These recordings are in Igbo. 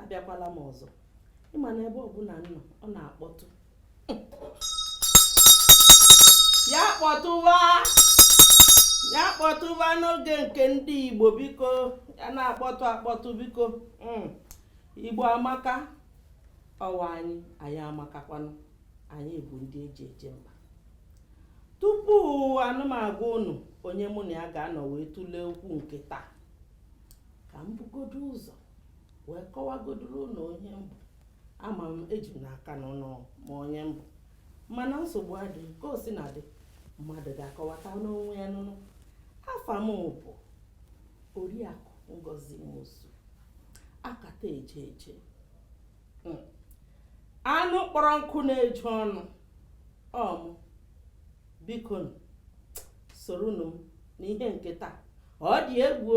abịakwala m ọzọ ị ma na ebe ọbụla m nọ ọ na-akpọtụ ya kpọtụwa n'oge nke ndị Igbo biko ya na-akpọtụ akpọtụ biko hmm. Igbo amaka ọ wụ anyị anyị amakakwanụ anyị bụ ndị eji eje mba tupu nụ m agwa unu onye mụ na ya ga-anọ wee tụlee okwu nke taa ka m bugodo ụzọ wee kọwagodoro unu onye m bụ ama m eji m n'aka na unu ma onye m bụ mana nsogbu adịghị ka o sina dị mmadụ ga-akọwata n'onwe ya nye unu afa m bụ oriakụ ngozi nwosu akata eje eje hmm. anụ kpọrọ nkụ na-eju ọnụ ọ mụ biko nụ soronụ m n'ihe nke taa ọ dị egwu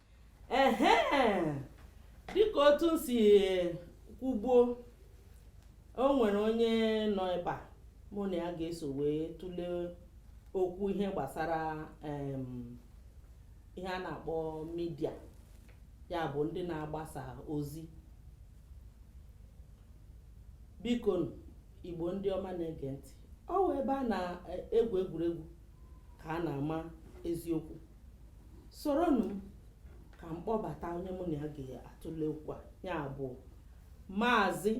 ehe dịka otu m si kwugbuo o nwere onye nọ ebe a mụ na ya ga-eso wee tụlee okwu ihe gbasara em, ihe a na-akpọ midia ya bụ ndị na-agbasa ozi biko nụ, igbo ndị ọma na-ege ntị ọ wụ ebe a na-egwu egwuregwu ka a na-ama eziokwu soronụ m ka m kpọbata onye mụ na ya ga-atụle okwu a ya bụ maazị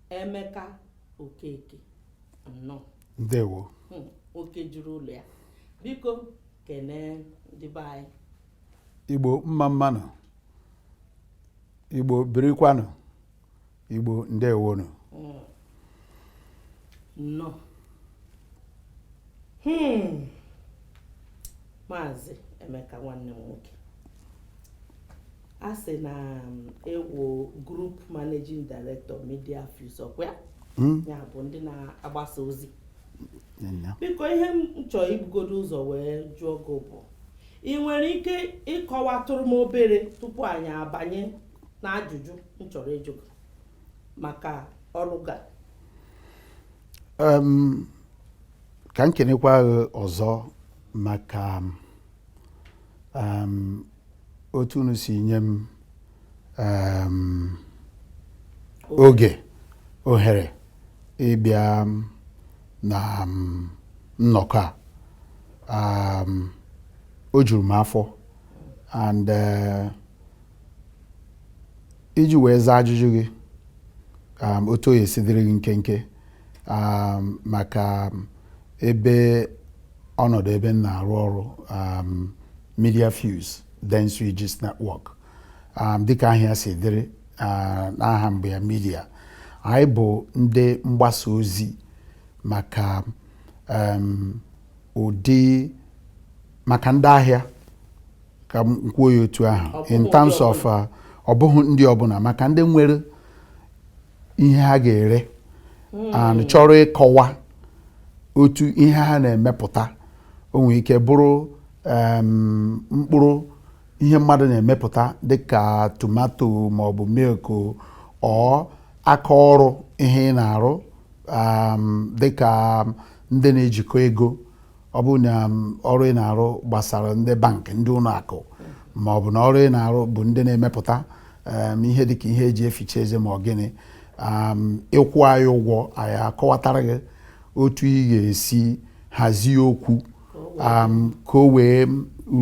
emeka okeke nnọọ ndewo Hmm, oke juru ụlọ ya biko kenee ndị be anyị igbo mma mma nụ igbo birikwanụ Igbo ndewonụ hmm. nnọọ hmm. maazị Emeka nwanne m nwoke a sị na um, ị wụ group managing director media fuse ọkwa hmm. ya bụ ndị na-agbasa ozi biko ihe m chọọ ibugodo ụzọ wee jụọ gị bụ ị nwere ike ịkọwatụrụ m obere tupu anyị abanye na ajụjụ m chọrọ ịjụ gị maka ọrụ gị Em, ka m kenekwa gị ọzọ maka em, otu unu si nye m em, oge ohere ịbịa na nnọkọ a Em, o juru m afọ and eh, iji wee zaa ajụjụ gị um, otu o esi dịrị gị nkenke um, maka um, ebe ọnọdụ ebe m na-arụ ọrụ um, Media Fuse Dentsu Aegis Network um, dịka ahịa si dịrị uh, n'aha mgbe ya media anyị bụ ndị mgbasa ozi maka um, ụdị maka ndị ahịa ka m kwuo ya otu ahụ in terms of uh, ọ bụghị ndị ọbụla maka ndị nwere ihe ha ga-ere and chọrọ ịkọwa otu ihe ha na-emepụta o nwere ike bụrụ em, mkpụrụ ihe mmadụ na-emepụta dịka tomato maọbụ milk or aka ọrụ ihe ị na-arụ um, dịka ndị na-ejikọ ego ọ bụ na um, ọrụ ị na-arụ gbasara ndị bank ndị ụlọ akụ ma ọ bụ na ọrụ ị na-arụ bụ ndị na-emepụta um, ihe dịka ihe eji eficha eze ma ọ gịnị um, ị kwụọ anyị ụgwọ anyị akọwatara gị otu ị ga-esi hazie okwu ka o wee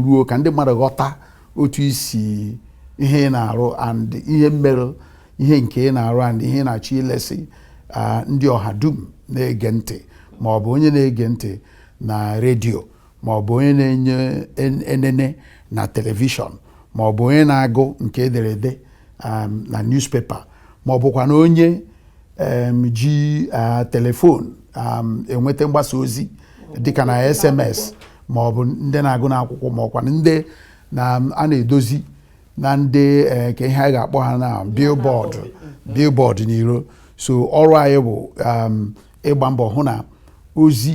ruo ka ndị mmadụ ghọta otu isi ihe ị na-arụ and ihe mere ihe nke ị na-arụ and ihe ị na-achọ ilesi ah, ndị ọha dum na-ege ntị ma ọ bụ onye na-ege ntị na redio ma ọ bụ onye na-ene en- enene na telivishọn ma ọ bụ onye na-agụ nke ederede um, na newspaper ma ọ bụkwa na onye um, ji ah, telefon um, enweta mgbasa ozi dịka na sms ma ọ bụ ndị na-agụ n'akwụkwọ ma ọkwa ndị na a na-edozi na ndị eh, ke ihe a ga-akpọ ha na billboard mm. billboard n'iro so ọrụ anyị bụ um, ịgba mbọ hụ na ozi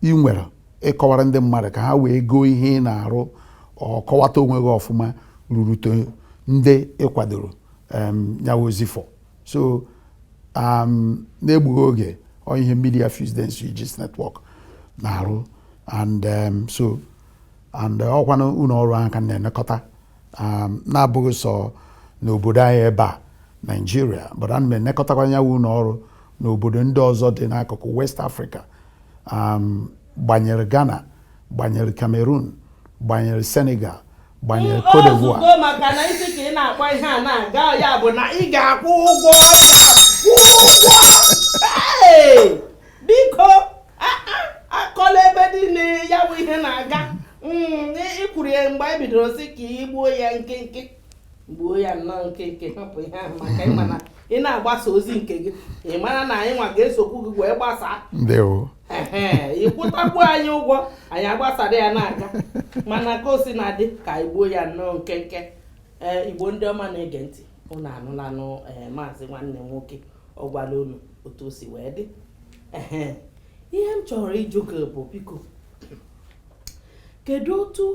ị nwere ịkọwara ndị mmadụ ka ha wee goo ihe ị na-arụ or kọwata onwe gị ọfụma rurute ndị ị kwadoro um, nyawa ozi for so um, na-egbughị oge ọ ihe Media Fuse Dentsu Aegis Network na-arụ and so and eh, ọ kwanụ ụlọ ọrụ ahụ ka m na-enekọta um, na-abụghị sọ n'obodo anyị ebe a Nigeria but ana m enekọtakwa nyawa ụlọ ọrụ n'obodo ndị ọzọ dị n'akụkụ west africa um, gbanyere ghana gbanyere cameroon gbanyere senegal gbanyere cote d'ivoire ozugbo maka na isi ka ị na-akpọ ihe a na-aga ya bụ na ị ga-akwụ ụgwọ ọbịa kwụọ ụgwọ Hey! biko akọla ebe niile ya bụ ihe na-aga mm, i kwuru ya mgbe anyị bidoro sị ka i gbuo ya nkenke gbuo ya nnọọ nkenke hapụ ihe ahụ maka ị ma na ị na-agbasa ozi nke gị ị mara na anyị nwa ga-esokwu gị wee gbasaa ị kwụtakwu anyị ụgwọ anyị agbasara ya na-aga mana ka o si na-adị ka anyị gbuo ya nnọọ nkenke ee eh, igbo ndị ọma na-ege ntị ụnụ anụlanụ ee eh, maazị nwanne nwoke ọ gwala unu otu o si wee dị ihe m chọrọ ịjụ gị bụ biko kedu otu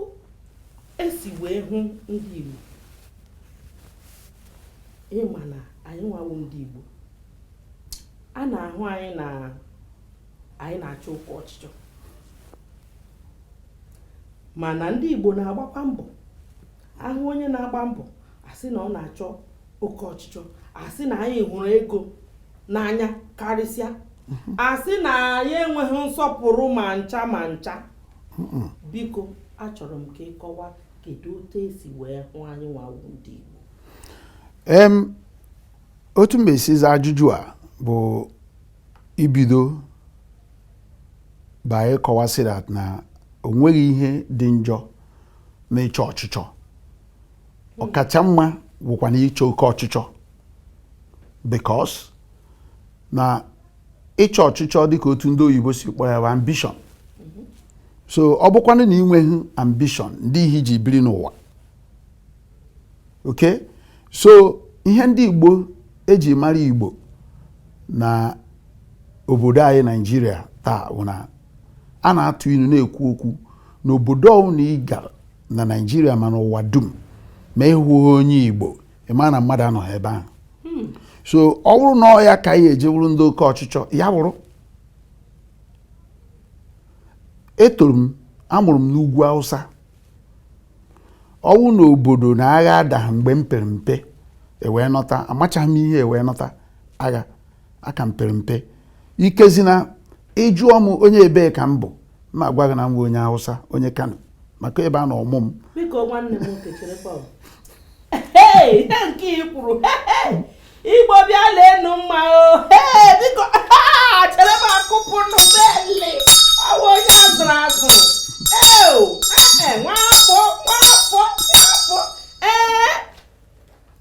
e si wee hụ ndị Igbo ị ma na anyị nwa wụ ndị Igbo a na-ahụ anyị na anyị na-achọ oke ọchịchọ mana ndị Igbo na-agbakwa mbọ a hụ onye na-agba mbọ a sị na ọ na-achọ oke ọchịchọ a sị na anyị hụrụ ego n'anya karịsịa a sị na anyị enweghị nsọpụrụ ma ncha ma ncha biko achọrọ m ka ị kọwaa kedu otu e si wee hụ anyị nwa wụ ndị Igbo em otu m ga-esi zaa ajụjụ a bụ ibido by ịkọwa sị that na o nweghị ihe dị njọ n'ịchọ ọchịchọ ọ kacha mma wụkwanụ ịchọ oke ọchịchọ because na ịchọ ọchịchọ dịka otu ndị oyibo si kpọọ ya bụ ambition so ọ bụkwanụ na i nweghị ambition ndị ihe i ji biri n'ụwa okay so ihe ndị Igbo e ji mara Igbo na obodo anyị Naijiria taa bụ na a na-atụ ilu na-ekwu okwu na obodo ọbụla ị gara na Naijiria ma n'ụwa dum ma ị hụghị onye Igbo ị ma na mmadụ anọghị ebe ahụ hmm. so ọ bụrụ na ọ ya ka anyị eji bụrụ ndị oke ọchịchọ ya bụrụ etoro m a mụrụ m n'ugwu Hausa ọ wụ na obodo na agha dara mgbe m pere mpe e wee nọta amachaghị m ihe e wee nọta agha aka m pere mpe ikezina ị jụọ m onye ebee ka m bụ m agwa gị na m bụ onye Hausa onye Kano maka ebe a nọ mụọ m nke i kwuru igbo bịa leenụ mma o biko chere m akụpụ nụ beli ọ wụ onye a zụrụ azụ eo ee nwafọ nwafọ nwafọ ee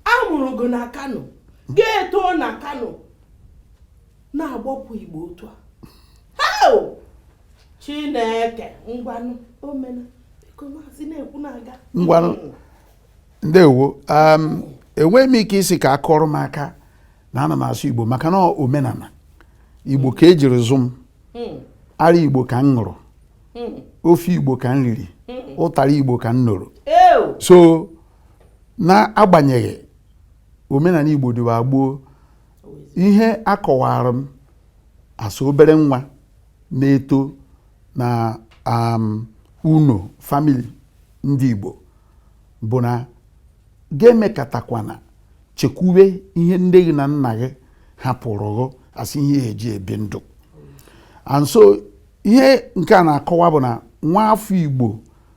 a mụrụ gị na kano gị etoo na kano na-agbapụ igbo otu a eo chineke ngwanụ omena biko maazị na-ekwu na-aga ngwanụ ndewo um, enweghị m ike ịsị ka a kụọrọ m aka na ana m asụ igbo maka na omenala igbo ka ejiri zụ m hmm. ara igbo ka m ṅụrụ hmm. ofe igbo ka m riri hmm. ụtara igbo ka m nụrụ so na-agbanyeghị omenala igbo dịwa gboo ihe a kọwaara m as obere nwa na-eto na um, ụnọ family ndị igbo bụ na gị emekatakwana chekwube ihe nne gị na nna gị hapụrụ gị as ihe eji ebi ndụ and so ihe nke a na-akọwa bụ na nwa afọ igbo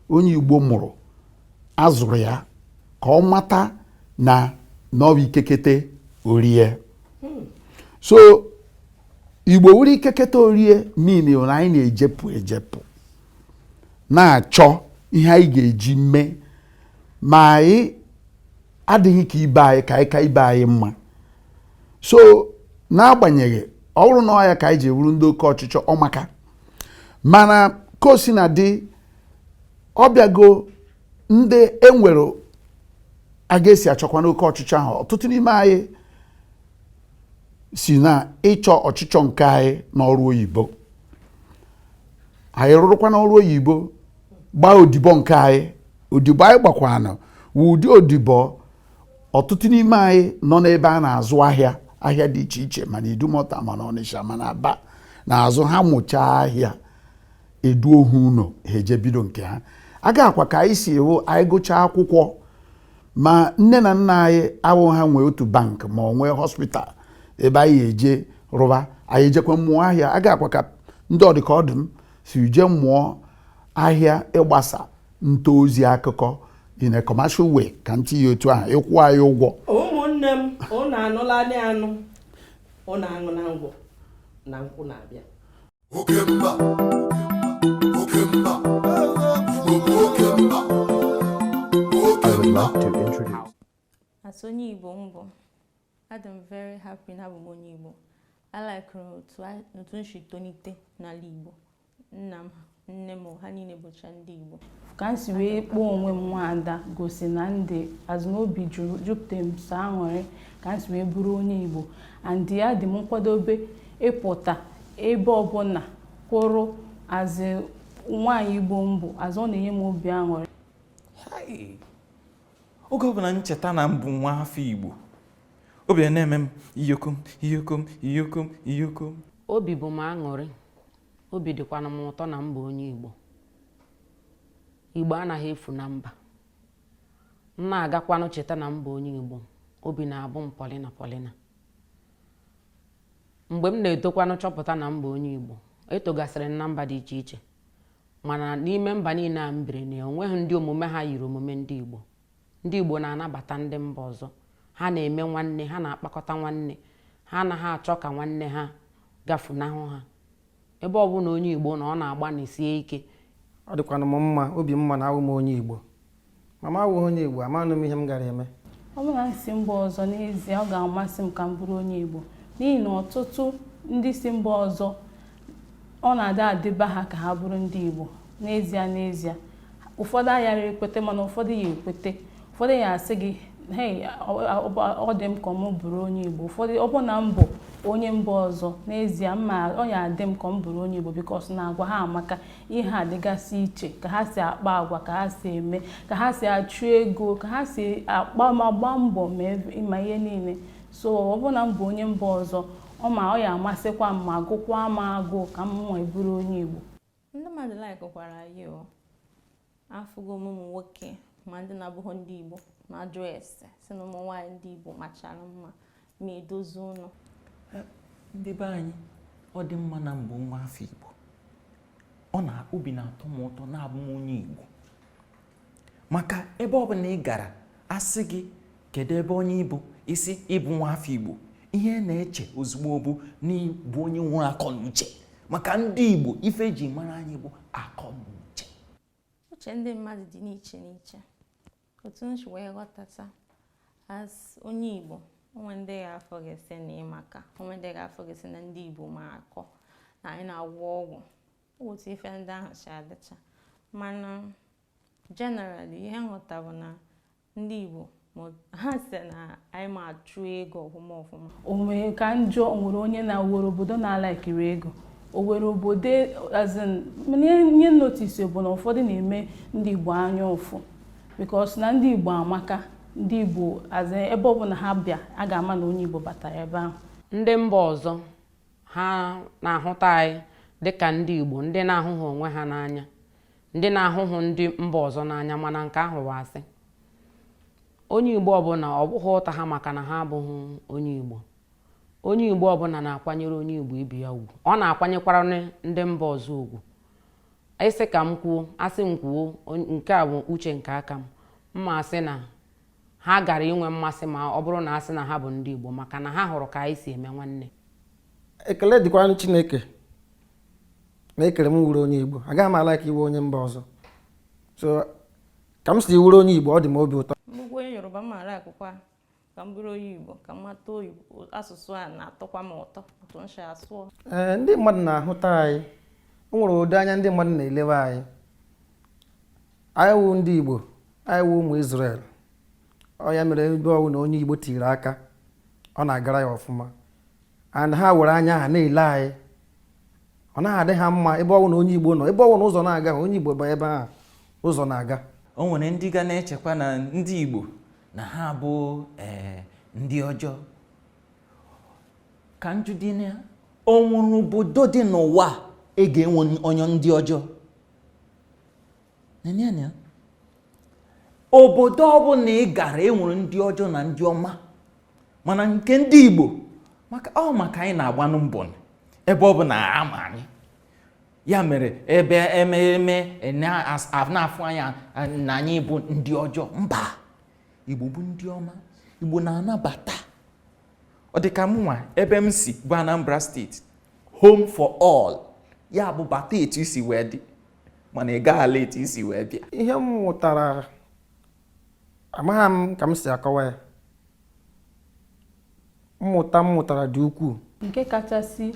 onye igbo mụrụ a zụrụ ya ka ọ mata na na ọ bụ ike kete orie so igbo wụrụ ike kete orie mean na anyị na-ejepụ ejepụ na-achọ ihe anyị ga-eji mee ma anyị adịghị ka ibe anyị ka anyị ka ibe anyị mma so n'agbanyeghị ọ bụrụ na ọ ya ka anyị ji wụrụ ndị oke ọchịchọ ọ maka mana ka o si na dị ọ bịago ndị e nwere aga e si achọkwanụ oke ọchịchọ ahụ ọtụtụ n'ime anyị si na ịchọ ọchịchọ nke anyị n'ọrụ oyibo anyị rụrụkwanụ ọrụ oyibo gbaa odibo nke anyị odibo anyị gbakwanụ wụ ụdị odibo ọtụtụ n'ime anyị nọ n'ebe a na-azụ ahịa ahịa dị iche iche ma na idumota ma na ọnịsha ma na aba na-azụ ha mụchaa ahịa e duo ha ụlọ ha eje bido nke ha aga a kwa ka anyị si hụ anyị gụchaa akwụkwọ ma nne na nna anyị awụ ha nwe otu bank ma ọ nwee hospital ebe anyị eje rụba anyị ejekwa mụọ ahịa aga a kwa ka ndị ọ dịka ọ dụ m si je mụọ ahịa ịgbasa nta ozi akụkọ in a commercial way ka m tinye otu ahụ ịkwụ anyị ụgwọ ụmụnne m ụnụ anụla anụ ụnụ aṅụ na ngwọ na nkwụ na-abịa oke mba oke mba igbo bụ oke mba oke I would mba love to introduce. As onye Igbo m bụ, adị m very happy na abụ m onye Igbo. I like otu a- otu m si tolite n'ala Igbo. Nna m, nne m, ha niile bụcha ndị Igbo. ka m si wee kpọọ onwe m nwaada gosi na ndị as in obi juru jupụta m sọ aṅụrị ka m si wee bụrụ onye igbo and yeah adị m nkwadobe ịpụta ebe ọbụla kwụrụ as nwaanyị igbo m bụ as in ọ na-enye m obi aṅụrị oge ọbụla m cheta na m bụ nwa afọ igbo obi na-eme m iyokom iyokom iyokom iyokom obi bụ m aṅụrị obi dịkwanụ m ụtọ na m bụ onye igbo igbo anaghị efu na mba m na-agakwanụ cheta na m bụ onye Igbo obi na-abụ m pọlịna pọlịna mgbe m na-etokwanụ chọpụta na m bụ onye Igbo etogasịrị m na mba dị iche iche mana n'ime mba niile a m biri na o nweghị ndị omume ha yiri omume ndị Igbo ndị Igbo na-anabata ndị mba ọzọ ha na-eme nwanne ha na-akpakọta nwanne ha anaghị achọ ka nwanne ha gafunahụ ha ebe ọ bụla onye Igbo nọ ọ na-agbanisie ike ọ dịkwanụ m mma obi mma na awụ m onye Igbo ma m awụghị onye Igbo amanụ m ihe m gara eme ọ bụrụ na m si mba ọzọ n'ezie ọ ga-amasị m ka m bụrụ onye Igbo n'ihi na ọtụtụ ndị si mba ọzọ ọ na-adị adịba ha ka ha bụrụ ndị Igbo n'ezie n'ezie ụfọdụ ayara ekwete mana ụfọdụ ya ekwete ụfọdụ ya asị gị hei ọ dị m ka m bụrụ onye Igbo ụfọdụ ọ bụ na m bụ onye mba ọzọ n'ezie m ma ọ ya adị m ka m bụrụ onye Igbo because na agwa ha amaka ihe ha dịgasị iche ka ha si akpa agwa ka ha si eme ka ha si achụ ego ka ha si agba mbọ ma ihe niile so ọ bụ na m bụ onye mba ọzọ ọ ma ọ ya amasịkwa m ma gụkwa m agụụ ka mụwa bụrụ onye Igbo Ndị mmadụ likekwara anyị o. Afụgo m ụmụ nwoke ma ndị na-abụghị ndị Igbo na-ajụ ese sị na ụmụ nwaanyị ndị Igbo machara mma ma edozi ụlọ. Ndị be anyị ọ dị mma na m bụ nwa afọ Igbo ọ na obi na-atọ m ụtọ na abụ m onye Igbo maka ebe ọ bụla ị gara a sị gị kedu ebe onye ị bụ ị sị ị bụ nwa afọ Igbo ihe a na-eche ozugbo bụ na ị bụ onye nwere akọ na uche maka ndị Igbo ife e ji mara anyị bụ akọ na uche uche ndị mmadụ dị n'iche n'iche otu m si wee ghọtata as onye Igbo o nwe ndị ga-afụ gị sị na ị maka o nwe ndị ga-afụ gị sị na ndị Igbo ma akọ na anyị na-agwọ ọgwụ otu ife ndị ahụ si adịcha mana generally ihe m ghọta bụ na ndị Igbo ha sị na anyị ma achụ ego ọfụma ọfụma o nwere ka njọ nwere onye na-aworo obodo na-ala ekiri ego o were obodo as in ihe m notice bụ na ụfọdụ na-eme ndị Igbo anya ụfụ because na ndị Igbo amaka ndị Igbo ebe ọbụla ha bịa a ga-ama na onye Igbo batara ebe ahụ ndị mba ọzọ ha na-ahụta anyị dịka ndị Igbo ndị na-ahụhụ onwe ha n'anya ndị na-ahụhụ ndị mba ọzọ n'anya mana nke ahụ wụ asị onye Igbo ọbụla ọ bụghị ụta ha maka na ha abụghị onye Igbo onye Igbo ọbụla na-akwanyere onye Igbo ibe ya ugwu ọ na-akwanyekwara ndị mba ọzọ ugwu ị sị ka m kwuo a sị m kwuo nke a bụ uche nke aka m m ma asị na ha gara inwe mmasị ma ọ bụrụ na a sị na ha bụ ndị Igbo maka na ha hụrụ ka anyị si eme nwanne ekele dịkwara Chineke na e kere m wụrụ onye Igbo agaghị m a-like ịwụ onye mba ọzọ so ka m si wụrụ onye Igbo ọ dị m obi ụtọ m bụkwa onye Yoruba m ala akwụkwọ ka m bụrụ onye Igbo ka m mata asụsụ a na-atọkwa m ụtọ otu m si asụọ ee ndị mmadụ na-ahụta anyị o nwere ụdị anya ndị mmadụ na-elewe anyị anyị wụ ndị Igbo anyị wụ ụmụ Izrel ọ ya mere ebe ọwụna onye Igbo tiri aka ọ na-agara ya ọfụma and ha were anya ha na-ele anyị ọ naghị adị ha mma ebe ọwụna onye Igbo nọ ebe ọwụna ụzọ na-aga onye Igbo banye ebe ahụ ụzọ na-aga o nwere ndị ga na-echekwa na ndị Igbo na ha bụ eh, ndị ọjọọ ka m jụdị na o nwere obodo dị n'ụwa e ga-enwe onye ndị ọjọọ Nene anya obodo ọbụla ị gara e nwere ndị ọjọọ na ndị ọma mana nke ndị Igbo maka ọ maka anyị na-agbanụ mbọ ebe ọbụna a ma anyị ya mere ebe ememe na-afụ anyị na anyị bụ ndị ọjọọ mba Igbo bụ ndị ọma Igbo na-anabata ọ dị ka mụnwa ebe m si bụ Anambra steeti home for all ya bụ bata etu i si wee dị mana ị gaghị ala etu i si wee bịa ihe m mụtara amaghị m ka m si akọwa ya mmụta m mụtara dị ukwuu nke kachasị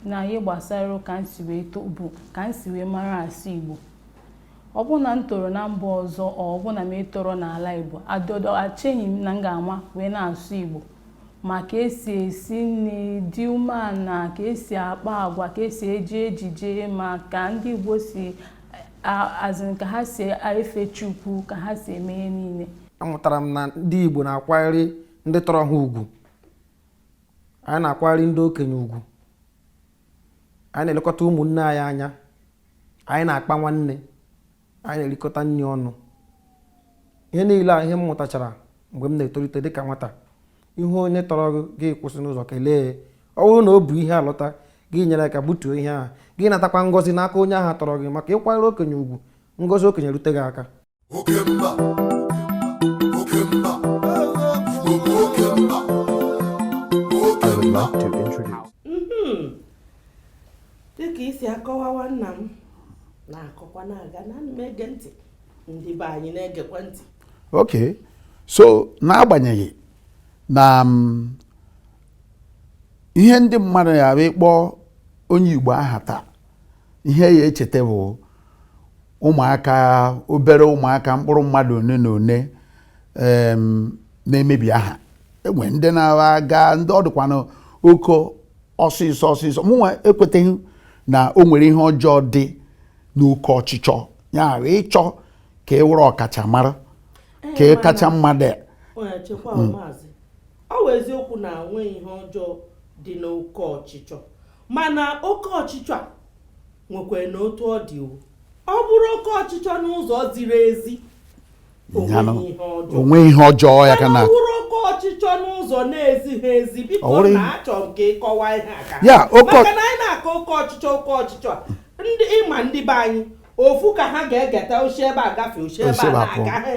n'ihe gbasara ka m si wee too bụ ka m si wee mara asụ Igbo ọ bụ na m toro na mba ọzọ ọ bụ na m etoro n'ala Igbo adọdọ echeghị m na m ga-ama wee na-asụ Igbo ma ka e si esi nri dị umeala ka e si akpa agwa ka e si eji ejije ma ka ndị Igbo si as in ka ha si efe Chukwu ka ha si eme ihe niile amụtara m na ndị Igbo na-akwanyere ndị tọrọ ha ugwu anyị na-akwanyere ndị okenye ugwu anyị na-elekọta ụmụnne anyị anya anyị na-akpa nwanne anyị na-erikọta nri ọnụ ihe niile a ihe m mụtachara mgbe m na-etolite dịka nwata ị hụ onye tọrọ gị gị kwụsị n'ụzọ kelee ọ bụrụ na o bu ihe alọta gị nyere aka butuo ihe ahụ gị natakwa ngọzi n'aka onye ahụ tọrọ gị maka ịkwanyere okenye ugwu ngọzi okenye rute gị aka dịka i si akọwawa nna m na-akọkwa na-aga ana m ege ntị ndị be anyị na-egekwa ntị ok so n'agbanyeghị na mm, ihe ndị mmadụ ya bụ ị kpọọ onye Igbo aha taa ihe a ya-echeta bụ ụmụaka obere ụmụaka mkpụrụ mmadụ one na one na-emebi aha e nwere ndị na-aga ndị ọ dịkwanụ oke ọsịsọ ọsịsọ mụnwa ekweteghị na o nwere ihe ọjọọ dị n'oke ọchịchọ ya wụ ịchọ ka ị wụrụ ọkachamara ka ị kacha mmadụ a. onye chekwa mm. maazị ọ wụ eziokwu na o nweghị ihe ọjọọ dị n'oke ọchịchọ mana oke ọchịchọ a nwekwara na otu ọ dị ọ bụrụ oke ọchịchọ n'ụzọ ziri ezi o nweghị ihe ọjọọ ya kama ọ wụrụ oke ọchịchọ n'ụzọ na-ezighị ezi biko na achọ m ka ị kọwaa ihe a maka na anyị na-akọ oke ọchịchọ oke ọchịchọ ị ma ndị be anyị ofu ka ha ga-egeta o si ebe a gafee o si ebe a na-aga ha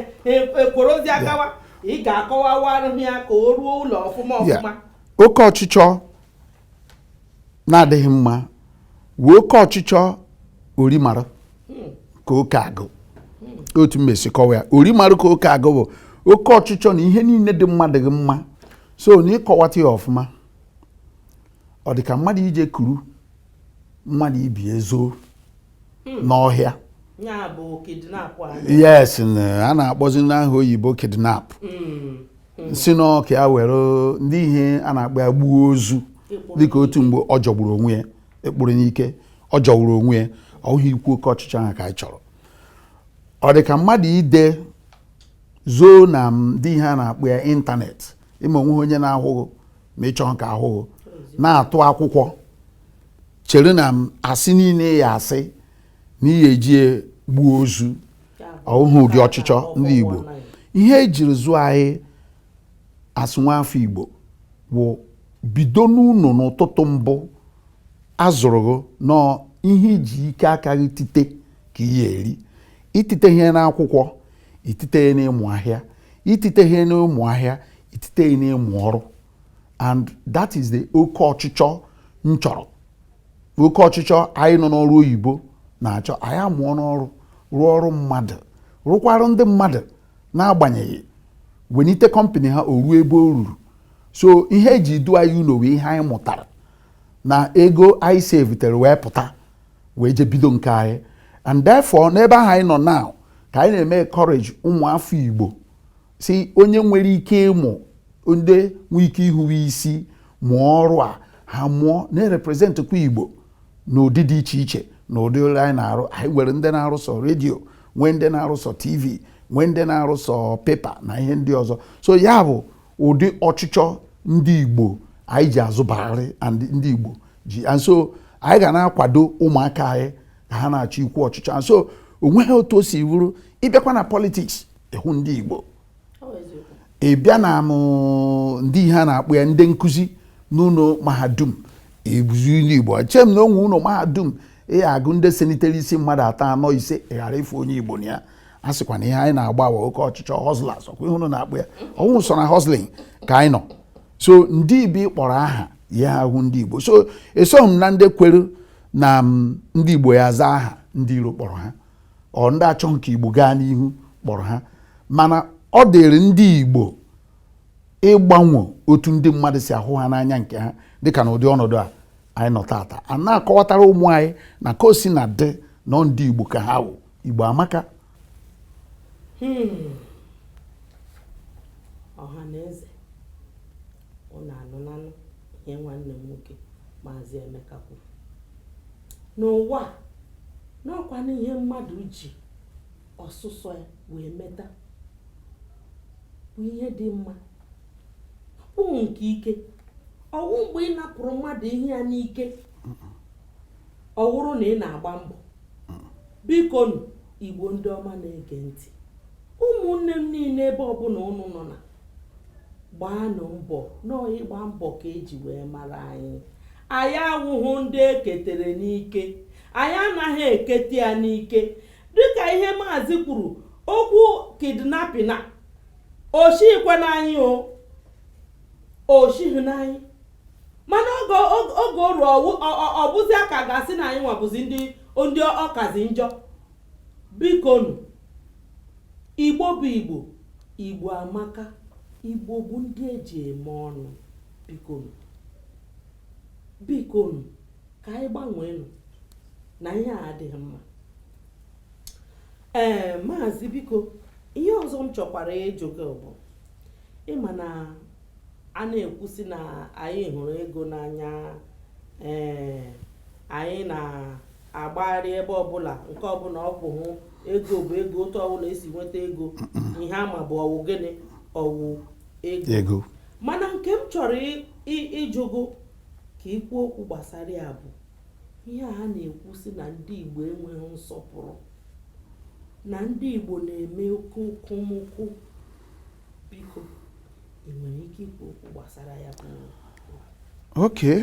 ekworo ozi agawa ị ga-akọwawarụ ya ka o ruo ụlọ ọfụma ọfụma oke ọchịchọ na-adịghị mma wụ oke ọchịchọ orimara ka oke agụụ otu m ya-esi kọwaa ya orimara ka oke agụụ bụ oke ọchịchọ n'ihe niile dị mma adịghị mma so n'ịkọwata ya ọfụma ọ dị ka mmadụ ije kuru mmadụ ị bịa zoo hmm. n'ọhịa yes a na-akpọzi n'aha oyibo kidnap hmm. Hmm. si n'aka ya were ndị ihe a na-akpọ ya gbuo ozu dịka otu mgbe ọ jọgburu onwe ya ịkpụrụ n'ike ọ jọgburu onwe ya ọ wụghịkwa oke ọchịchọ ahụ ka anyị chọrọ ọ dị ka mmadụ ije zoo na ndị ihe a na-akpọ ya ịntanetị ị ma o nweghị onye na-ahụ gị ma ị chọghị ka a hụ gị na-atụ akwụkwọ chere na m asị niile ị ya-asị na ị ya-eji ya gbuo ozu ọ wụghị ụdị ọchịchọ ndị Igbo ihe e jiri zụọ anyị as nwa afọ Igbo bụ bido n'ụlọ n'ụtụtụ mbụ a zụrụ gị n'ihe iji ike aka gị tite nke ị ya-eri i titeghị n'akwụkwọ i tite ya n'ịmụ ahịa i titeghị n'ịmụ ahịa i tite ya n'ịmụ ọrụ and that is the oke ọchịchọ m chọrọ oke ọchịchọ anyị nọ n'ọrụ oyibo na-achọ anyị amụọ n'ọrụ rụọ ọrụ mmadụ rụkwara ndị mmadụ n'agbanyeghị wenite kọmpanị ha o ruo ebe o ruru so ihe e ji du anyị ụlọ wụ ihe anyị mụtara na ego anyị savetere wee pụta wee je bido nke anyị and therefore n'ebe ahụ anyị nọ now ka anyị na-eme encourage ụmụ afọ Igbo so onye nwere ike ịmụ ndị nwee ike ihuwe isi mụọ ọrụ a ha mụọ na-representkwa igbo n'ụdị dị iche iche na ụdị ọrụ anyị na-arụ anyị nwere ndị na-arụsọ redio nwee ndị na-arụsọ tv nwee ndị na-arụsọ pepa na ihe ndị ọzọ so ya bụ ụdị ọchịchọ ndị igbo anyị ji azụbarị ndị igbo ji and so anyị ga na-akwado ụmụaka anyị ka ha na-achọ ikwu ọchịchọ and so onweghị otu o si bụrụ ịbịakwa na politics ịhụ ndị Igbo ị bịa na mm ndị ihe a na-akpọ ya ndị nkụzi n'ụlọ mahadum ọ bụzi ndị Igbo eche m na o nwe ụlọ mahadum ị ya-agụ ndị senitere isi mmadụ atọ anọ ise ị ghara ịfụ onye Igbo na ya a sịkwa na ihe anyị na-agba awa oke ọchịchọ hustlers ọ kwa ihe unu na-akpọ ya ọhụ so na hustling ka anyị nọ so ndị ibi kpọrọ aha ya ahụ ndị Igbo so esoghị m na ndị kwere na mm, ndị Igbo ya-aza aha ndị iro kpọrọ ha or ndị achọhụ ka Igbo gaa n'ihu kpọrọ ha mana ọ dịrị ndị Igbo ịgbanwe otu ndị mmadụ si ahụ ha n'anya nke ha dịka na ụdị ọnọdụ a anyị nọ taa taa a na-akọwatara ụmụ anyị na ka o sina dị na ọ ndị Igbo ka ha wụ Igbo amaka hmm. ọha na eze Ụnụ anụlanụ ihe nwanne m nwoke Maazị Emeka kwuru n'ụwa na ọ kwanụ ihe mmadụ ji ọsụsọ ya wee meta bụ ihe dị mma ọ wụhụ nke ike ọ wụ mgbe ị napụrụ mmadụ ihe ya n'ike ọ wụrụ na ị na-agba mbọ bikonu igbo ndị ọma na-ege ntị ụmụnne m niile ebe ọbụla ụnụ nọ na gbaanụ mbọ na ọ ịgba mbọ ka e ji wee mara anyị anyị awụhụ ndị eketere n'ike anyị anaghị ekete ya n'ike dịka ihe maazị kwuru okwu kidnapping a o shikwe n'anyị o o shighị n'anyị mana oge oge oru ọ bụzia ka a ga-asị na anyị nwa bụzi ndị ndị ọ kazi njọ bikonu Igbo bụ Igbo, Igbo amaka, Igbo bụ ndị e ji eme ọnụ. Bikonu, bikonu, ka anyị gbanweenụ na ihe a adịghị mma. Ee, maazị biko, ihe ọzọ m chọkwara ịjụ gị bụ ịma na a na-ekwu sị na anyị hụrụ ego n'anya ee anyị na agbagharị ebe ọbụla nke ọbụla ọ bụ hụ ego bụ ego otu ọbụla esi nweta ego ihe ama bụ ọwụ gịnị ọwụ ego mana nke m chọrọ ịjụ gị ka i kwuo okwu gbasara ya bụ ihe a na-ekwu si na ndị Igbo enweghị nsọpụrụ na ndị Igbo na-eme oke okomoko biko ị nwere ike ikwu okwu gbasara ya bụ okay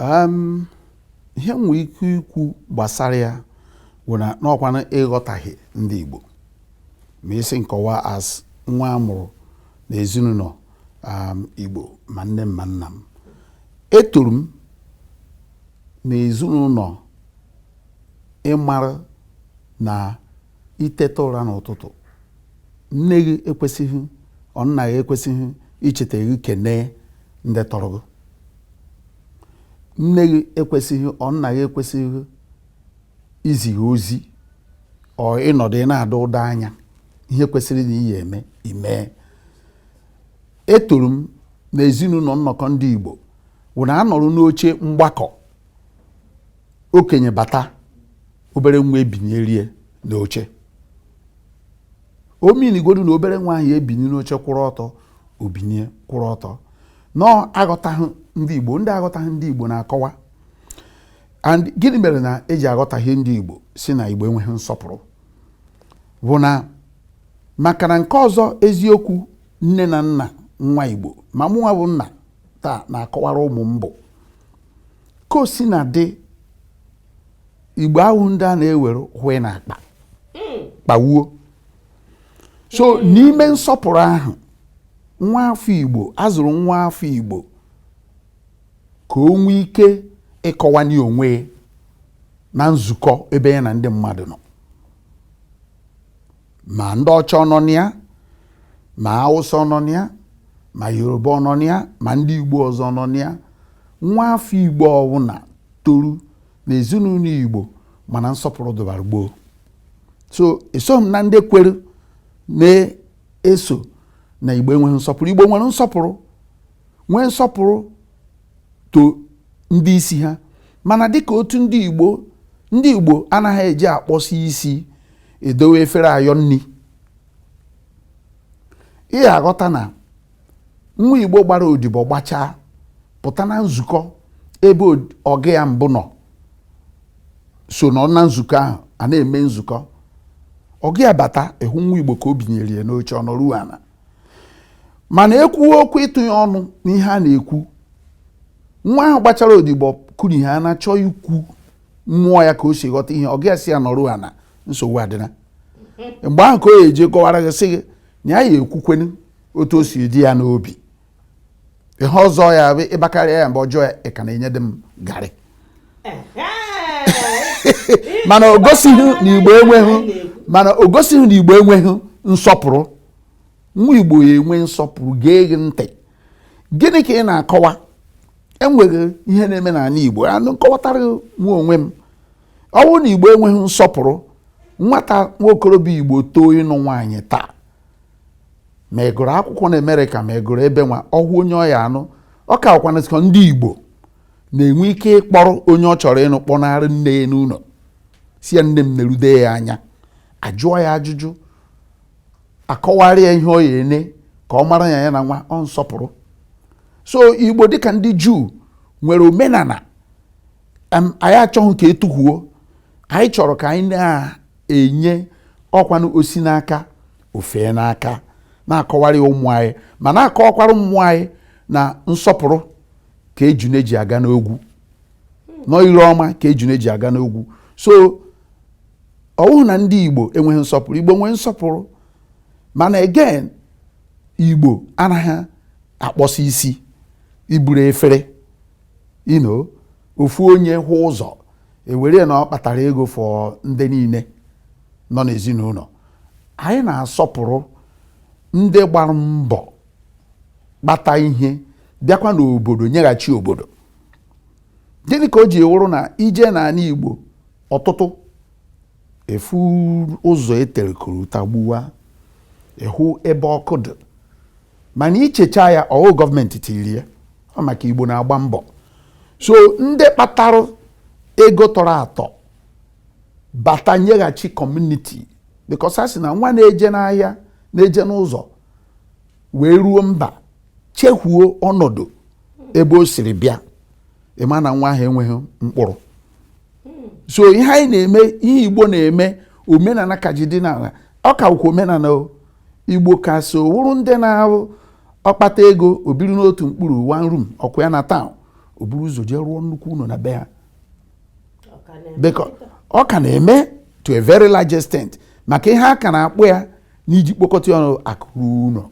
um, ihe m nwere ike ikwu gbasara ya bụ na n'ọkwana ịghọtaghị ndị Igbo ma ị sị m kọwaa as nwa a mụrụ na ezinụlọ um, Igbo ma nne m ma nna m etoro m na ezinụlọ ị mara na i teta ụra n'ụtụtụ nne gị ekwesịghị or nna gị ekwesịghị icheta gị kenee ndị tọrọ gị nne gị ekwesịghị or nna gị ekwesịghị izi gị ozi or ị nọdụ ị na-ada ụda anya ihe kwesịrị na ị ya-eme i mee etoro m na ezinụlọ nnọkọ ndị Igbo wụ na a nọrọ n'oche mgbakọ okenye bata obere nwa ebinyere ya n'oche o mean-igodu na obere nwa ahụ ebinye n'oche kwụrụ ọtọ o binye kwụrụ ọtọ na aghọtaghị ndị Igbo ndị aghọtaghị ndị Igbo na-akọwa and gịnị mere na eji aghọtaghị ndị Igbo si na Igbo enweghị nsọpụrụ bụ na maka na nke ọzọ eziokwu nne na nna nwa Igbo ma mụnwa bụ nna taa na-akọwara ụmụ m bụ ka o si na ndị igbo awụghị ndị a na-ewere hwe na akpa hmm. kpawuo so hmm. n'ime nsọpụrụ ahụ nwa afọ igbo a zụrụ nwa afọ igbo ka o nwee ike ịkọwanye onwe na nzukọ ebe ya na ndị mmadụ nọ ma ndị ọcha nọ na ya ma awụsa nọ na ya ma yoruba ọ nọ na ya ma ndị igbo ọzọ nọ na ya nwa afọ igbo ọwụna toru na ezinụlọ igbo ma na nsọpụrụ dụbara gboo so esoghị m na ndị kwere na-asị na igbo enweghị nsọpụrụ igbo nwere nsọpụrụ nwee nsọpụrụ to ndị isi ha mana dịka otu ndị Igbo ndị Igbo anaghị eji akpọsi isi edowe efere ayọ nni ị ya-aghọta na nwa Igbo gbara odibo gbachaa pụta na nzukọ ebe ọga ya mbụ nọ so nọ na nzukọ ahụ a na-eme nzukọ ọga ya bata ị hụ nwa Igbo ka o binyere ya n'oche ọ nọruo ala mana ekwuwe okwu ịtụnye ọnụ n'ihe a na-ekwu nwa ahụ gbachara odibo kwuru ihe a na-achọ ikwu mmụọ ya ka o si ghọta ihe oge ị ya-asị ya nọrọ ana nsogbu adịna mgbe ahụ ka ọ ya-eji kọwara gị sị gị na ya ya ekwukwenu otu o si dị ya n'obi ihe ọzọ ya bụ ịbakarịa ya mgbe ọjọọ ya ị ka na-enye dị m garị mana o gosighị na igbo enweghị nsọpụrụ nwa igbo ya-enwe nsọpụrụ gee gị ntị gịnị ka ị na-akọwa enweghị ihe na-eme n'ala igbo anụ nkọwatara nwa onwe m ọ bụrụ na igbo enweghị nsọpụrụ nwata nwa okorobịa igbo too ịnụ nwaanyị taa ma ị gụrụ akwụkwọ na Amerịka ma ị gụrụ ebe nwa ọwụ onye ọ ya-anụ ọ ka ọkwana sịkọ ndị Igbo na-enwe ike ịkpọrọ onye ọ chọrọ ịnụ kpọnarị nne ya n'ụlọ sị ya nne m nerude ya anya a jụọ ya ajụjụ akọwara ya ihe ọ ya ene ka ọ mara ya ya na nwa ọ nsọpụrụ so Igbo dịka ndị Juu nwere omenala anyị achọghị ka e tuhuo anyị chọrọ ka anyị na enye ọkwanụ o si n'aka o fee n'aka na-akọwara ya ụmụ anyị ma na-akọwakwara ụmụ anyị na nsọpụrụ ka ejune ji aga n'ogwu no ire ọma ka ejune ji aga n'ogwu so ọwụghị na ndị igbo enweghị nsọpụrụ igbo nwere nsọpụrụ mana again igbo anaghị akpọsi isi iburu efere you know ofu onye hụ ụzọ e were ya na ọ kpatara ego for ndị niile nọ n'ezinụlọ anyị na-asọpụrụ ndị gbara mbọ kpata ihe bịakwa n'obodo nyeghachi obodo gịnị ka o ji wụrụ na i jee n'ala Igbo ọtụtụ ị fụ ụzọ e tere korota gbuwa ị hụ ebe ọkụ dị mana i checha ya ọwụ gọọmenti tiri ya ọ maka igbo na-agba mbọ so ndị kpatara ego tọrọ atọ bata nyeghachi community because a sị na nwa na-eje n'ahịa na-eje n'ụzọ wee ruo mba chehuo ọnọdụ ebe o siri bịa ị ma na nwa ahụ enweghị mkpụrụ so ihe anyị na-eme ihe igbo na-eme omenala ka ji dị n'ala ọ ka ukwu omenala o igbo ka so wụrụ ndị na-ahụ ọ kpata ego o biri n'otu mkpụrụ one room ọkụ ya na town o buru ụzọ jee rụọ nnukwu ụlọ na be ha ọ ka na-eme to a very large extent maka ihe a ka na-akpụ ya n'iji kpokọta ọnụ akụ ruo ụlọ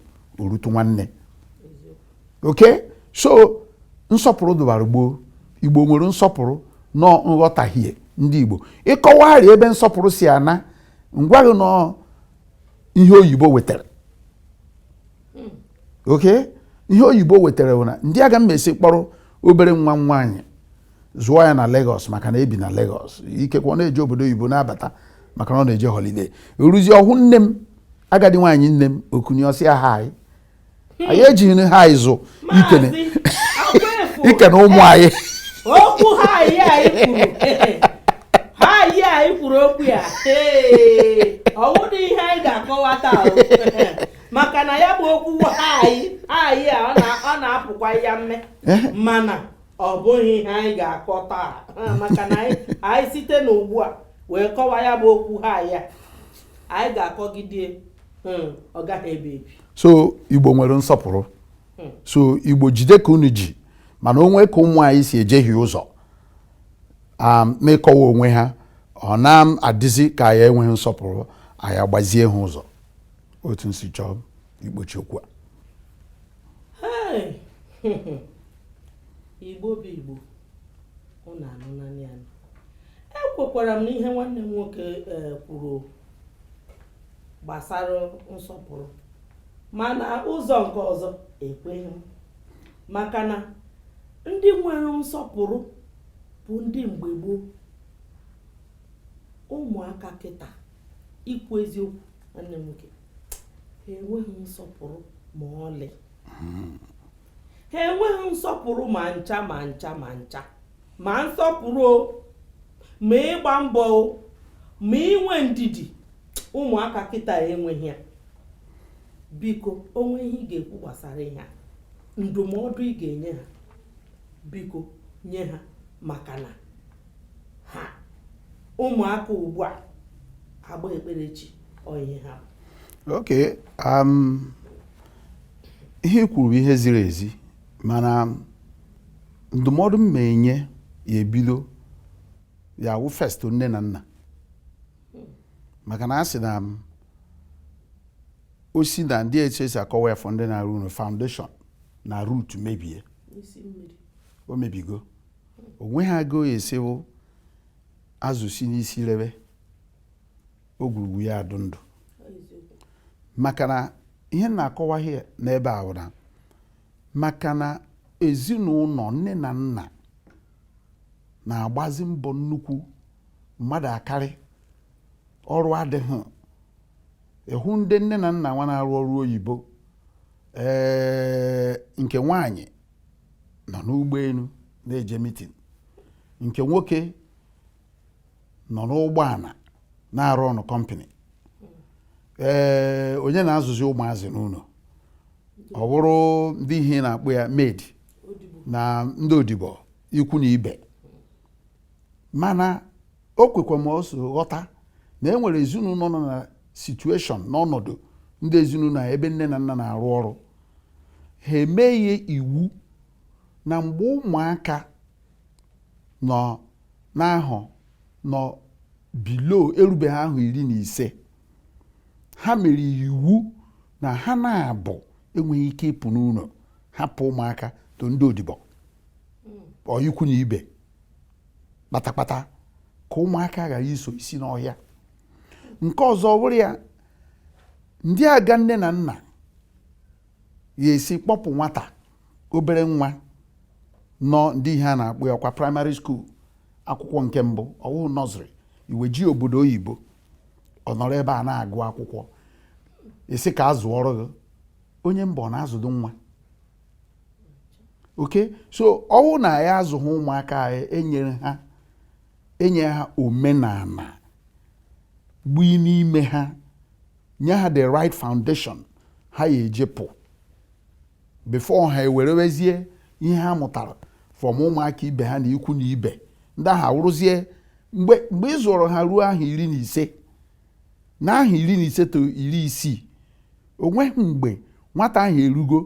o rutu nwanne okay so nsọpụrụ dụbara gboo igbo nwere nsọpụrụ nọ nghọtahie ndị igbo ịkọwagharị ebe nsọpụrụ si ana ngwaghị nọ ihe oyibo wetara hmm. ok ihe oyibo wetara bụ na ndị aga m esi kpọrọ obere nwa m nwaanyị zụọ ya na Lagos maka na e bi na Lagos ikekwe ọ na-eje obodo oyibo na-abata maka na ọ na-eje holiday eruzi ọ hụ nne m agadi nwaanyị nne m okenye ọ sị ya hi anyị ejighị hi zụ ikene ikene ụmụ anyị okwu hi anyị kwuru hi anyị kwuru okwu ya ọ wụdị ihe anyị ga-akọwa taa maka na ya bụ okwu anyị anyị a ọ na-apụkwa ya mme eh? mana ọ bụghị ihe anyị ga-akọ taa maka na anyị site n'ugbu a wee kọwa ya bụ okwu hi a anyị ga-akọgide hmm, ọ gaghị ebi ebi so igbo nwere nsọpụrụ hmm. so igbo jide ka unu ji mana o nwe ka ụmụ anyị si ejehie ụzọ um, n'ịkọwa onwe ha ọ na-adịzi ka anyị enweghị nsọpụrụ anyị agbazie ha ụzọ otu m si chọọ ịkpọchi okwu a igbo bụ igbo ọ na-anụ naanị anụ ekwekwara m n'ihe nwanne m nwoke eh, kwuru gbasara nsọpụrụ mana ụzọ nke ọzọ ekweghị m maka na ndị nwere nsọpụrụ bụ ndị mgbe gboo ụmụaka kịta ikwu eziokwu nwanne m nwoke ha enweghị nsọpụrụ ma ọlị ha enweghị nsọpụrụ ma ncha ma ncha ma ncha ma nsọpụrụ o ma ịgba mbọ o ma inwe ndidi ụmụaka kịta enweghị ya biko o nwee ihe ị ga-ekwu gbasara ihe a ndụmọdụ ị ga-enye ha biko nye ha maka na ha ụmụaka ugbu a agba ekpere chi ọ ihe ha bụ. ok um, ihe i kwuru bụ ihe ziri ezi mana ndụmọdụ m ma-enye ya ebido ya wụ first nne na nna maka na a sị na o si na ndị etu e si akọwa ya for ndị na-arụ ụlọ foundation na root mebie o mebigo o nweghị ka ọ ya-esi wụ azụ si n'isi rebe ogwurugwu ya adụ ndụ maka na ihe m na-akọwa gị n'ebe a bụ na maka na ezinụlọ nne na nna na-agbazi mbọ nnukwu mmadụ akarịa ọrụ adịghị ị hụ ndị nne na nna nwa na-arụ ọrụ oyibo ee nke nwaanyị nọ n'ụgbọelu na-eje meeting nke nwoke nọ n'ụgbọala na-arụ ọnụ company ee onye na-azụzi ụmụazị n'ụlọ ọ bụrụ ndị ihe a na-akpọ ya maid na ndị odibo ikwu na ibe mana o kwekwa m ọsọ ghọta na e nwere ezinụlọ nọ na situation n'ọnọdụ ndị ezinụlọ ebe nne na nna na-arụ ọrụ ha emeghe iwu na mgbe ụmụaka nọ n'ahọ nọ below erubeghị ahọ iri na ise ha mere iwu na ha naabọ enweghị ike ịpụ n'ụlọ hapụ ụmụaka to ndị odibo or ikwu na ibe kpatakpata ka ụmụaka ghara ịsọ isi n'ọhịa nke ọzọ bụrụ ya ndị aga nne na nna ya esi kpọpụ nwata obere nwa nọ ndị ihe a na-akpọ ya kwa primary school akwụkwọ nke mbụ ọ wụ nursery iweje obodo oyibo ọ nọrọ ebe a na-agụ akwụkwọ ị sị ka a zụọrọ gị onye mba ọ na-azụdo nwa okay so ọ wụ na anyị azụghị ụmụaka anyị enyere ha enye ha omenala gbui n'ime ha nye ha the right foundation ha ya eji pụ before ha ewerewezie ihe ha mụtara from ụmụaka ibe ha na ikwu na ibe ndị ahụ awụrụzie mgbe ị zụrụ ha ruo ahọ iri na ise na ahọ iri na ise to iri isii o nweghị mgbe nwata ahụ erugo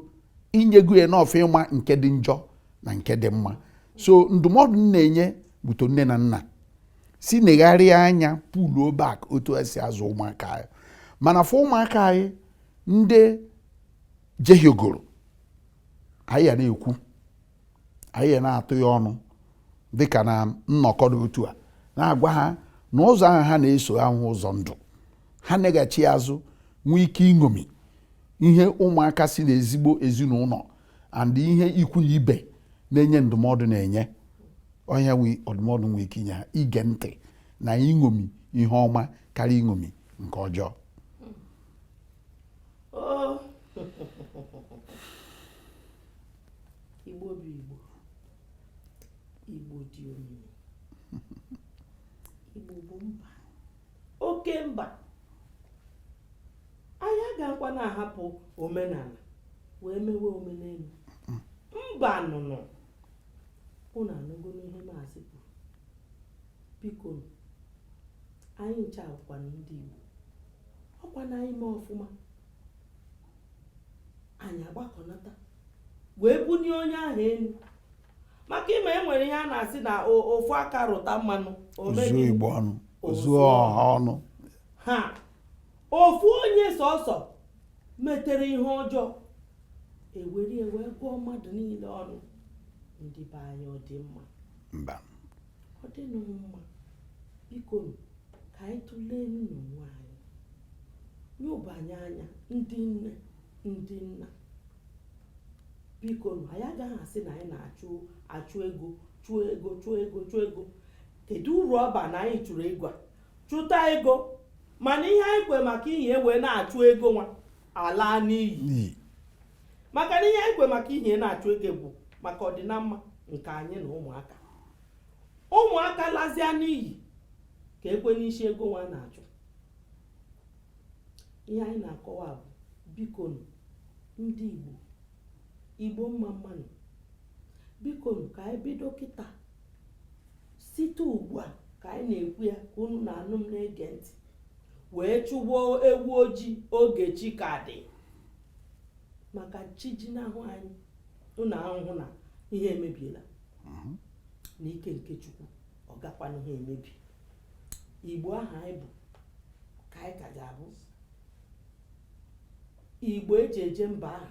i nyego ya enough ịma nke dị njọ na nke dị mma so ndụmọdụ m na-enye bụ to nne na nna si negharịa anya puluo back otu esi azụ ụmụaka anyị mana for ụmụaka anyị ndị jehiegoro anyị ya na-ekwu anyị ya na-atụ ya ọnụ dịka na nnọkọ dị otu a na-agwa ha na ụzọ ahụ ha na-eso awụghị ụzọ ndụ ha neghachi azụ nwee ike iṅomi ihe ụmụaka si n'ezigbo ezinụlọ and ihe ikwu na ibe na-enye ndụmọdụ na-enye onye nwe ọdụmọdụ nwee ike inye ha ige ntị na iṅomi ihe ọma karịa iṅomi nke ọjọọ Igbo bụ Igbo Igbo dị omimi Igbo bụ mba oke mba anyị agakwa na-ahapụ omenala wee mewe omenelu mba nụnụ ụnụ anụgonụ ihe maazị kwuru biko anyị ncha wụkwanụ ndị Igbo ọ kwa na anyị mee ọfụma anyị agbakọnata wee bunie onye ahụ elu maka ị ma e nwere ihe a na-asị na ofu aka rụta mmanụ o zuo igbo ọnụ o zuo ọha ọnụ ha ofu onye sọsọ metere ihe ọjọọ e were wee gụọ mmadụ niile ọnụ ndị be anyị ọ dị mma mba ọ dịrọ mma bikonu ka anyị tụleenụ onwe anyị nyobanye anya ndị nne ndị nna bikonu anyị agaghị asị na anyị na-achụ achụ ego chụọ ego chụọ ego chụọ ego kedu uru ọ ba na anyị chụrụ ego a chụta ego mana ihe anyị kwo maka ya wee na-achụ ego nwa alaa n'iyi maka na ihe anyị kwo maka ya na-achụ ego bụ maka ọdịnamma nke anyị na ụmụaka ụmụaka lazia n'iyi kee kwanụ isi ego nwa a na-achụ ihe anyị na-akọwa bụ bikonu ndị igbo igbo mma mma nụ bikonu ka anyị bido kịta site ugbu a ka anyị na-ekwu ya ka unu na-anụ m na-ege ntị wee chụgbuo ewu ojii oge chi ka dị maka chi jinahụ anyị unu ahụ na ihe emebiela n'ike nke chukwu ọ gakwanụha emebi igbo ahụ anyị bụ ka anyị ka ga-abụ igbo e ji eje mba ahụ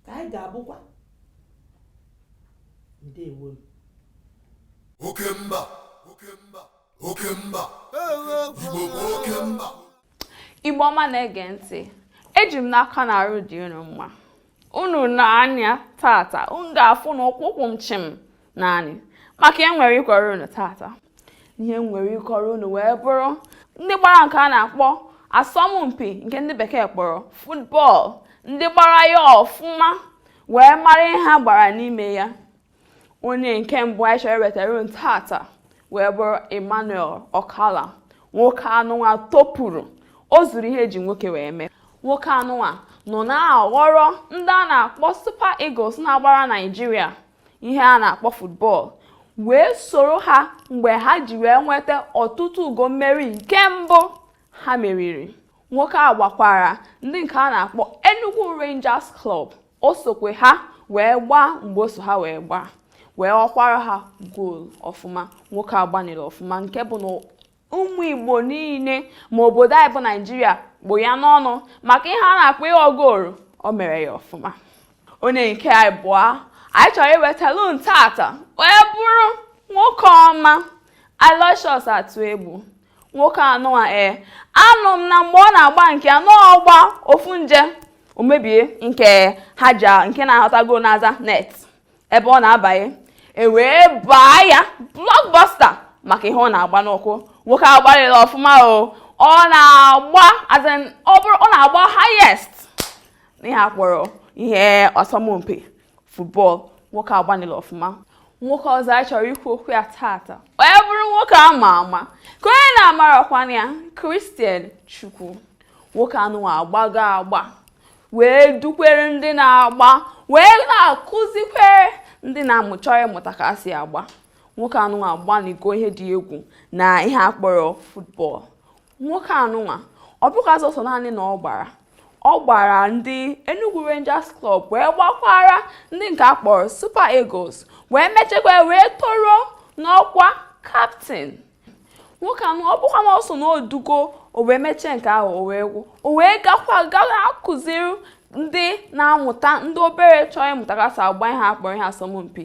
ka anyị ga-abụkwa ndewo oke mba oke mba oke mba igbo bụ oke mba igbo ọma na-ege ntị eji m n'aka na arụ dị unu mma unu nee anya tata unu ga-afụ na ụkwụ kwụ m chịm naanị maka ihe m nwere ịkọrọ unu tata ihe m nwere ịkọrọ unu wee bụrụ ndị gbara nke a na-akpọ asọmpi nke ndị bekee kpọrọ futbọọlụ ndị gbara ya ọfụma wee mara ihe ha gbara n'ime ya onye nke mbụ anyị chọrọ iwetara unu tata wee bụrụ Emmanuel Okala nwoke anụnwa topụrụ o zuru ihe e ji nwoke wee mee nwoke anụnwa nọ na-aghọrọ ndị a na-akpọ Super Eagles na-agbara Naịjirịa ihe a na-akpọ football wee soro ha mgbe ha ji wee nweta ọtụtụ ugo mmeri nke mbụ ha meriri nwoke a gbakwara ndị nke a na-akpọ Enugu Rangers Club o sokwa ha wee gbaa mgbe o so ha wee gbaa wee ghọkwara ha goolu ọfụma nwoke a gbanịrị ọfụma nke bụ na ụmụ Igbo niile ma obodo anyị bụ Naijiria kpụ ya n'ọnụ maka ihe a na-akpọ ịghọ goolu o mere ya ọfụma onye nke ịbụa anyị chọrọ iwetalụ unu tata wee bụrụ nwoke ọma Aloysius Atuegbu nwoke anụwa ee anụ m na mgbe ọ na-agba nke anụ ọ gba ofu nje o mebie nke ha ji nke na-ahọta gol n'aza net ebe ọ na-abanye e wee baa ya blockbuster maka ihe ọ na-agba n'ụkwụ nwoke agbalịla ọfụma o ọ na-agba ọ na-agba highest n'ihe akpọrọ ihe asọmpi football nwoke agbanịla ọfụma nwoke ọzọ anyị chọrọ ikwu okwu ya tata wee bụrụ nwoke a ma ama ka onye na-amarakwana ya Christian Chukwu nwoke anụwa agbago agba wee dukwere ndị na-agba wee na-akụzikwere ndị na-amụ chọrọ ịmụta ka a si agba nwoke anụwa agbanigo ihe dị egwu na ihe akpọrọ football nwoke anụnwa ọ bụkwa sọsọ naanị na ọ gbara ọ gbara ndị Enugu Rangers Club wee gbakwara ndị nke a kpọrọ Super Eagles wee mechekwa wee toro n'ọkwa kaptịn nwoke anụnwa ọ bụkwa na ọ so na o dugo o wee mechie nke ahụ o wee gwụ o wee gakwa gawa akụziri ndị na-amụta ndị obere chọọ ịmụta ka a si agba ihe akpọrọ ihe asọmpi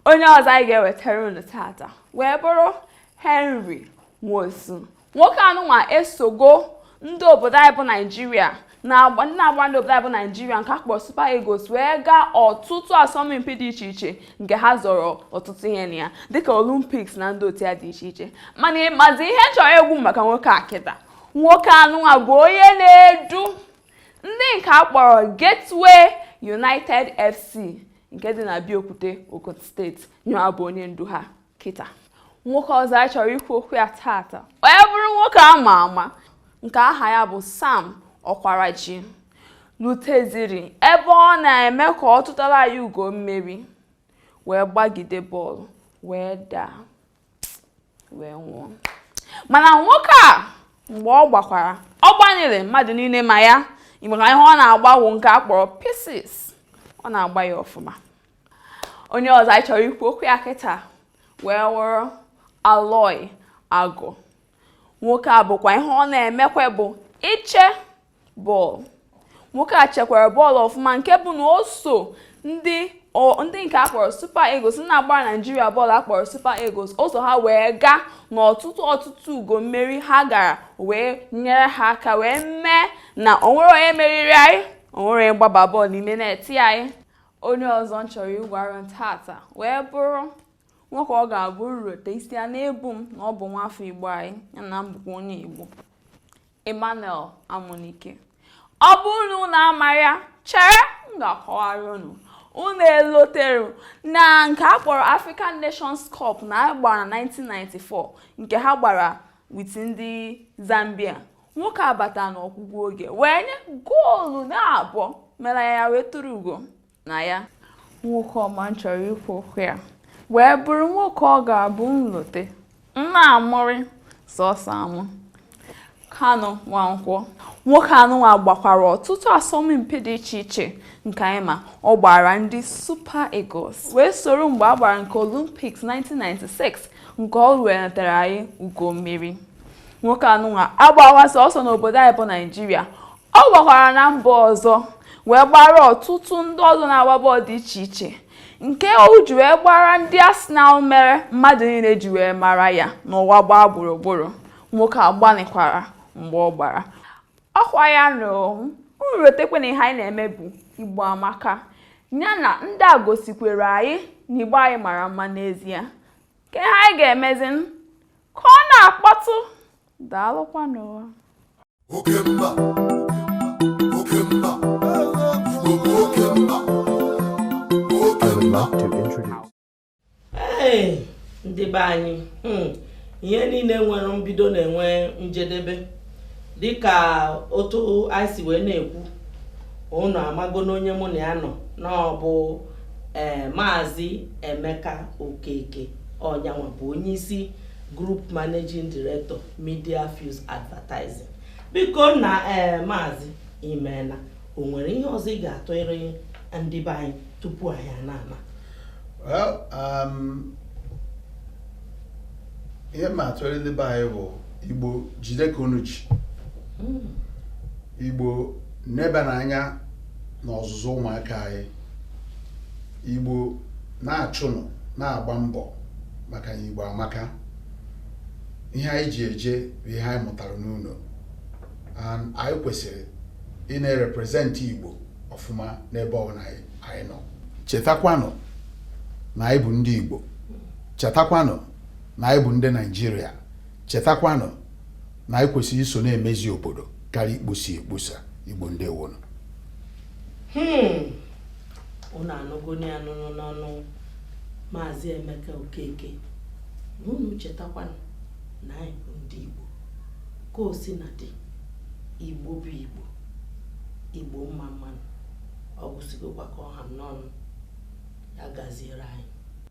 onye ọzọ anyị ga-ewetara unu tata wee bụrụ Henry Nwosu nwoke anụnwa esogo ndị obodo anyị bụ Naijiria na-agba ndị na-agba ndị obodo anyị bụ Naijiria nke akpọrọ Super Eagles wee gaa ọtụtụ asọmpi dị iche iche nke ha zọrọ ọtụtụ ihe na ya dịka Olympics na ndị otu ya dị iche iche mana ị mazi ihe chọrọ egwu maka nwoke a kịta nwoke anụnwa bụ onye na-edu ndị nke akpọrọ Gateway United FC nke dị na Abeokuta Ogun steeti nyanwa bụ onye ndu ha kịta nwoke ọzọ anyị chọrọ ikwu okwu ya taata wee bụrụ nwoke a ma ama nke aha ya bụ Sam Okwaraji luteziri ebe ọ na-eme ka ọ tụtara ya ugo mmeri wee gbagide bọọlụ wee daa wee nwụọ mana nwoke a mgbe ọ gbakwara ọ gbanyere mmadụ niile ma ya maka ihe ọ na-agbawo nke a kpọrọ pieces ọ na-agba ya ọfụma onye ọzọ anyị chọrọ ikwu okwu ya kịta wee wụrụ Aloy Agụ nwoke a bụkwa ihe ọ na-emekwa bụ iche bọọlụ nwoke a chekwara bọọlụ ọfụma nke bụ na o so ndị ndị nke a kpọrọ Super Eagles na-agbara Naijiria bọọlụ akpọrọ Super Eagles o so ha wee gaa n'ọtụtụ ọtụtụ ugo mmeri ha gara wee nyere ha aka wee mee na onwere onye meriri anyị onwere onye gbaba bọọlụ n'ime neti anyị onye ọzọ m chọrọ ịgwa unu tata wee bụrụ nwoke ọ ga-abụ m rota isi a na-ebu m na ọ bụ nwafọ Igbo anyị ya na m bụkwa onye Igbo Emmanuel Amunike ọ bụrụ na unu amarọ ya chere m ga-akọwara unu unu elotere na nke a kpọrọ African Nations Cup na a gbara na 1994 nke ha gbara with ndị Zambia nwoke a bata n'ọgwụgwụ oge wee nye goolu na abụọ mere ya wee tụrụ ugo na ya nwoke ọma m chọrọ ikwu okwu ya wee bụrụ nwoke ọ ga-abụ m lote m na-amụrị sọsọ amụ Kanu Nwankwọ nwoke anụnwa gbakwara ọtụtụ asọmpi dị iche iche nke anyị ma ọ gbaara ndị Super Eagles wee soro mgbe a gbara nke Olympics 1996 nke o wetara anyị ugo mmeri nwoke anụnwa agbawa sọsọ n'obodo anyị bụ Naijiria ọ gbakwara na mba ọzọ wee gbaara ọtụtụ ndị ọzọ na-agba bọọlụ dị iche iche nke o ji wee gbaara ndị Arsenal mere mmadụ niile ji wee mara ya n'ụwa gbaa gburugburu nwoke a gbanịkwara mgbe ọ gbara ọ kwa ya na unu rotekwa na ihe anyị na-eme bụ Igbo Amaka ya na ndị a gosikwara anyị na Igbo anyị mara mma n'ezie kee ihe anyị ga-emezi ka ọ na-akpọtụ daalụkwanụ o oke mba oke mba igbo bụ oke mba oke mba I would love to introduce. ee ndị be anyị hmm, ihe niile nwere mbido na-enwe njedebe dịka otu anyị si wee na-ekwu unu amago na onye mụ na ya nọ na ọ bụ ee maazị emeka okeke ọ nyanwa bụ onye isi Group Managing Director Media Fuse Advertising biko na ee eh, maazị imeena o nwere ihe ọzọ ị ga-atụịrị ndị be anyị tupu anyị ana-ama well um, ihe m ga-atụrị ndị be anyị bụ igbo jide ka unu ji hmm. igbo nebanụ anya n'ọzụzụ ụmụaka anyị Igbo na-achụnụ na-agba mbọ maka na Igbo amaka ihe anyị ji eje bụ ihe anyị mụtara n'ụlọ and anyị kwesịrị ịna-erepresent Igbo ọfụma n'ebe ọbụla anyị nọ chetakwanụ na anyị bụ ndị Igbo chetakwanụ na anyị bụ ndị Naịjirịa chetakwanụ na anyị kwesịrị iso na-emezi obodo karịa ikposa ekposa Igbo ndewonụ hmm. unu anụgonụ ya nụnụ n'ọnụ maazị emeka okeke na unu chetakwanụ na anyị bụ ndị igbo ka o si na-adị igbo bụ igbo igbo mma mmanụ ọ gwụsịgokwa ka ọ ha m n'ọnụ ya gaziere anyị